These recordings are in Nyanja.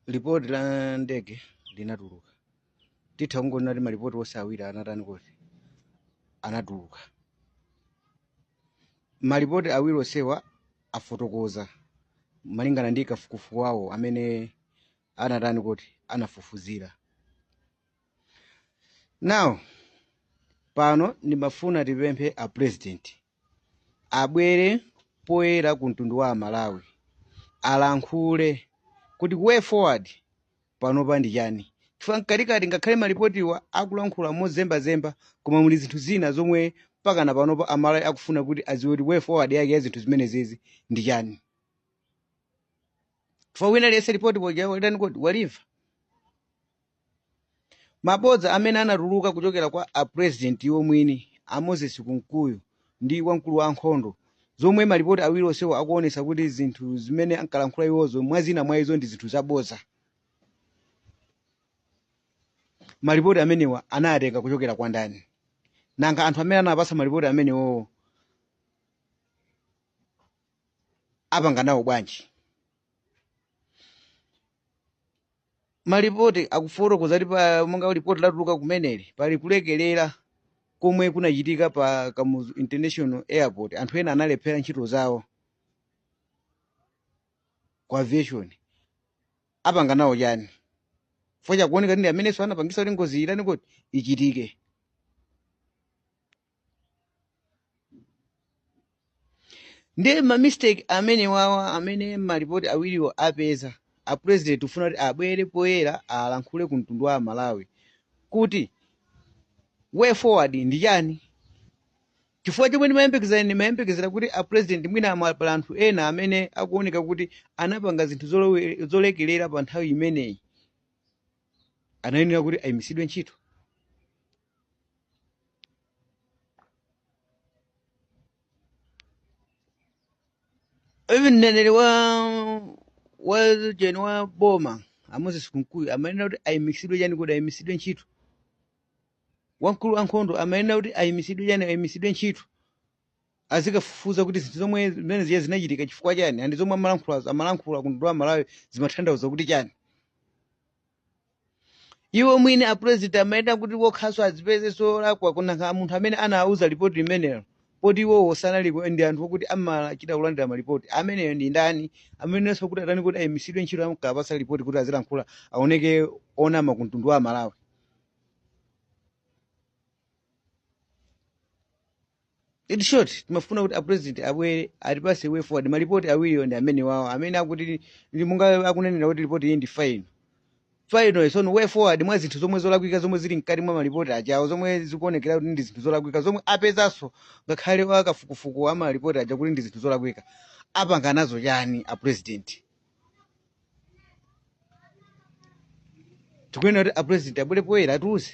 lipoti la ndege linatuluka titha kungonena kuti malipoti onse awiri anatani kuti anatuluka malipoti awiri onsewa afotokoza malingana ndi kafukufuku wawo amene anatani kuti anafufuzira now pano ndimafuna tipemphe a president abwere poyera ku mtundu wa amalawi alankhule kuti way forward panopa ndi chani chifukwa mkatikati ngakhale malipotiwa akulankhula mozembazemba koma muli zinthu zina zomwe mpakana panopa amalawi akufuna kuti adziwe kuti way forward yake ya zinthu zimenezizi ndi chani chifukwa wina liyese lipoti poja walitani kuti walimva Mabodza amene anatuluka kuchokera kwa a President iwo mwini, a Moses Kunkuyu ndi wamkulu wa ankhondo, zomwe malipoti awiri onsewo akuonetsa kuti zinthu zimene ankalankhula iwozo mwa zina mwa izo ndi zinthu zabodza. Malipoti amenewa anayatenga kuchokera kwa ndani? Nanga anthu amene anapatsa malipoti amenewowo apanga nawo bwanji? Malipoti akufotokoza kuti pa monga lipoti latuluka kumeneli pali kulekerera komwe kunachitika pa Kamuzu International Airport. Anthu ena analephera ntchito zawo ku aviation. Apanga nawo chani? Chifukwa chakuoneka kuti ndi amenenso anapangisa kuti ngozi itani kuti ichitike. ndiye mamistake amene wawo amene malipoti awiriwo apeza a president kufuna kuti abwere poyera alankhule ku mtundu wa malawi kuti way forward ndi chani chifukwa chomwe ndimayembekezera ndimayembekezera kuti a president mwina ama pali anthu ena amene akuoneka kuti anapanga zinthu zolekelera pa nthawi imeneyi anayenera kuti ayimitsidwe ntchito even mneneri wa wa jeni wa boma a moses kunkuyu amayenera kuti ayimisidwe chani kuti ayimisidwe ntchito wamkulu wankhondo amayenera kuti ayimisidwe chani ayimisidwe ntchito azikafufuza kuti zinthu zomwe zimene ziya zinachitika chifukwa chani andi zomwe amalankhula amalankhula ku mtundu wa malawi zimatanthauza kuti chani iwo mwini a president amayenera kuti wokhaso azipezenso olakwa kunanga munthu amene anawuza report limenelo poti iwowo sanaliko ndi anthu okuti amachita kulandira maripoti ameneyo ndi ndani amayeneranso kuti atani kuti ayimisidwe ntchito amkawapasa report kuti azilankhula aoneke onama ku mtundu wa malawi in short timafuna kuti apresident abwere atipase way forward malipoti awiriwo ndi amene awawo amene akuti ndi monga akunenera kuti lipoti iyi ndi fine final so way forward mwa zinthu zomwe zolakwika zomwe zili mkati mwa malipoti ajawo zomwe zikuonekera kuti ndi zinthu zolakwika zomwe apezanso ngakhale akafukufuku a malipoti aja kuti ndi zinthu zolakwika apanga nazo chani a president tikunena kuti apurezidenti abwere poyera atiuze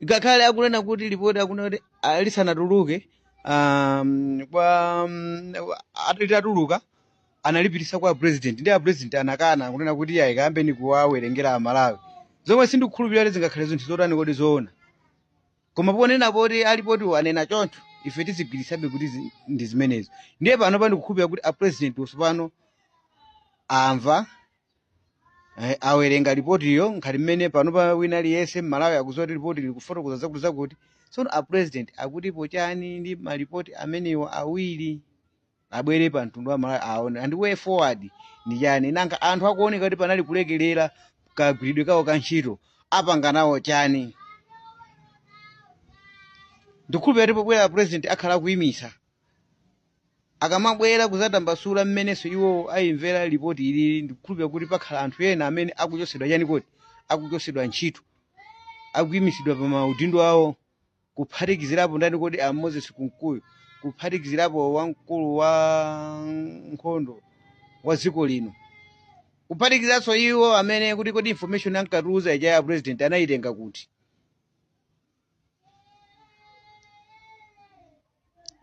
ngakhale akunena kuti lipoti akunena kuti ah, lisanatuluke um, kwa um, at- litatuluka analipitisa kwa president ndiye apresident anakana kunena kuti ayi kayambeni kuwawerengera amalawi zomwe sindikukhulupirira kuti zingakhale zinthu zotani kodi zoona koma ponena poti alipotiwo anena choncho ife tizigwiritsabe kuti zi- ndi zimenezo ndiye pano ndikukhulupira kuti apresident tsopano amva eh, awerenga ripotiyo ngati mmene panopa wina aliyense mmalawi akuziwa kuti ripoti likufotokoza zakuti zakuti tsono apresident akutipo chani ndi maripoti amenewa awiri abwere pa mtundu wa malawi aone and way forward ndi chani nanga anthu akuoneka kuti panali kulekelera kagwiridwe kawo ka ntchito apanga nawo chani ndikhulupira kuti pobwera president akhala akuyimitsa akamabwera kuzatambasula mmenenso iwo ayimvera lipoti ilili ndikhulupira kuti pakhala anthu ena amene akuchotsedwa chani kodi akuchotsedwa ntchito akuyimitsidwa pa maudindo awo kuphatikizirapo ndani kodi a moses kunkuyu kuphatikizirapo wamkulu wa nkhondo wa dziko lino kuphatikizanso iwo amene kuti kodi information ankatiuza ija ya president anayitenga kuti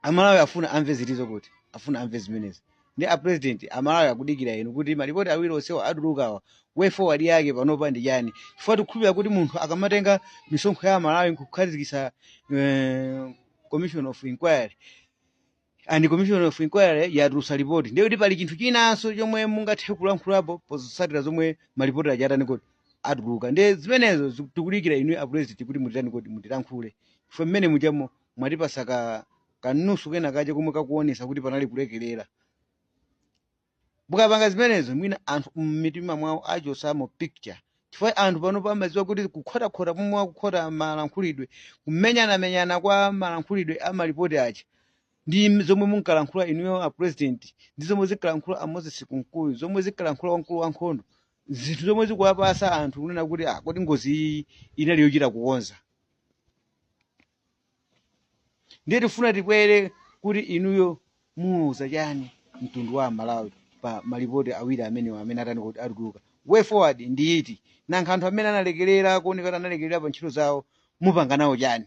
amalawi afuna amve chitsimikizo kuti afuna amve zimenezi ndiye a president amalawi akudikira inu kuti malipoti awiri onsewa atulukawa way forward yake panopa ndi chani chifukwa tikukhulupirira kuti munthu akamatenga misonkho ya amalawi nkukhazikitsa eh, commission of inquiry and commission of inquiry yatulusa lipoti ndiye kuti pali chinthu chinanso chomwe mungathe kulankhulapo potsatira zomwe malipoti aja atani kodi atuluka ndiye zimenezo ziku- tikudikira inu a president kuti mutitani kodi mutilankhule chifukwa mmene mujamo mwatipasa ka ka news kena kache komwe kakuonesa kuti panali kulekelera mukapanga zimenezo mwina anthu mmitima mwawo achosamo picture chifukwa anthu pano pamadziwa kuti kukhotakhota komwe akukhota malankhulidwe kumenyanamenyana kwa malankhulidwe a malipoti aja ndi zomwe munkalankhula inuyo a president ndi zomwe zinkalankhula a moses kunkuyu zomwe zinkalankhula wamkulu wa nkhondo zinthu zomwe zikuwapasa anthu kunena kuti ah kodi ngozi iyi inali yochita kukonza ndiye tifuna timve kuti inuyo muwauza chani mtundu wa amalawi pa malipoti awiri amenewa amene atani kuti atuluka way forward ndi iti nanga anthu amene analekerera kuoneka kuti analekerera pa ntchito zawo mupanga nawo chani